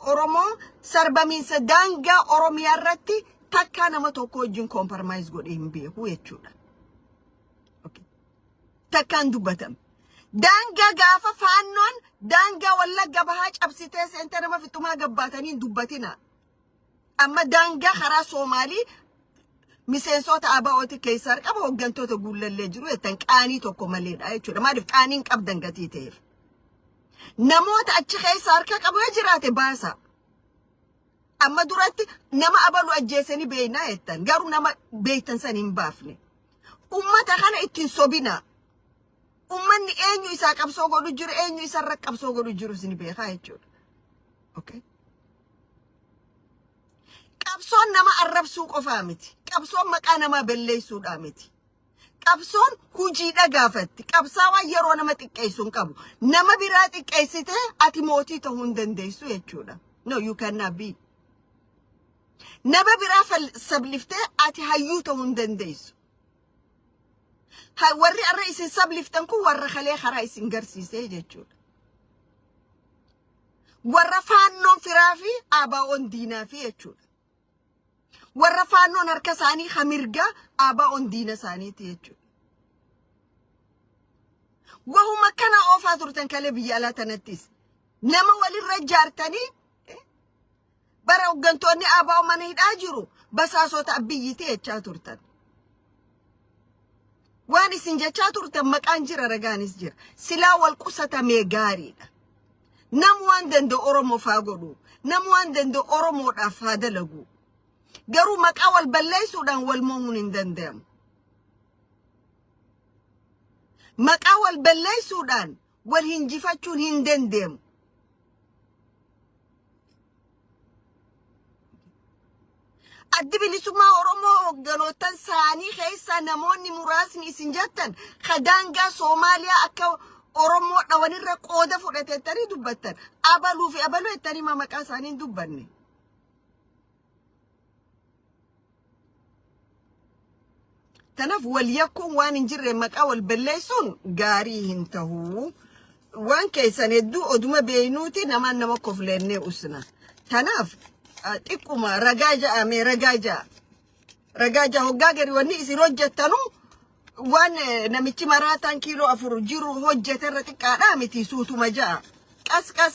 Oromoo sarbamiinsa daangaa Oromiyaa irratti takkaa nama tokko wajjin compromise godhee hin beeku jechuudha. Okay. Takkaan dubbatame. Daangaa gaafa faannoon daangaa wallagga bahaa cabsitee seentee nama fixumaa gabbaatanii hin dubbatina. Amma daangaa karaa Soomaalii miseensota ABO'ti keessa argama hooggantoota guullallee jiru jettan qaanii tokko maleedha jechuudha. Maaliif qaanii hin qabdan gatii ta'eef. Namoota achi keessa harka qabu yoo jiraate baasaa. Amma duratti nama abalu ajjeesanii beeknaa jettan garuu nama beektan san hin baafne. Ummata kana ittiin sobinaa. Ummanni eenyu isaa qabsoo godhu jiru eenyu isarra qabsoo godhu jiru isin beekaa jechuudha. Okay. Qabsoon nama arrabsuu qofaa miti. Qabsoon maqaa namaa balleessuudhaa miti. Qabsoon hujiidha gaafatti. Qabsaawaan yeroo nama xiqqeessu hin qabu. Nama biraa xiqqeessitee ati mootii ta'uu hin dandeessu jechuudha. No, you cannot be. Nama biraa fal- sabliftee ati hayyuu ta'uu hin dandeessu. Ha- Warri har'a isin sabliftan kun warra kalee karaa isin garsiisee jechuudha. Warra faannoon firaa fi abaa'oon diinaa fi jechuudha. Warra faannoon harka isaanii ka mirgaa ABOn diina isaaniiti jechuudha. Wahuma kana oofaa turtan kalee biyya alaa tanattis. Nama walirra ijaartanii eh, bara hooggantoonni ABO mana hidhaa jiru basaasota abbiyyiti jechaa turtan. Waan isin jechaa turtan maqaan jira ragaanis jira. Silaa wal qusatamee gaariidha. Nam waan danda'u Oromoof haa godhu. Nam waan danda'u Oromoodhaaf haa dalagu. Garuu maqaa wal balleessuudhaan wal moomuun hin danda'amu. Maqaa wal balleessuudhaan Wal hinjifachuun hin dandeemu. Addi bilisummaa Oromoo hogganootan isaanii keessaa namoonni muraasni isin jettan ka daangaa Soomaaliyaa akka Oromoo dhawanirra qooda fudhate jettanii dubbattan. Abaluu fi abaluu jettanii ma maqaa isaanii hin dubbanne. Kanaaf wal yakkuun waan hin jirre maqaa wal balleessuun gaarii hin tahu. Waan keessan hedduu oduma beeynuuti namaan nama kofleennee usna. Kanaaf ah, xiqquma ragaa ja'a mee ragaa ja'a. Ragaa ja'a hoggaa gari wanni isin hojjettanu waan eh, namichi maraataan kiiloo afur jiru hojjeterra xiqqaadhaa miti suutuma ja'a. Qas qas.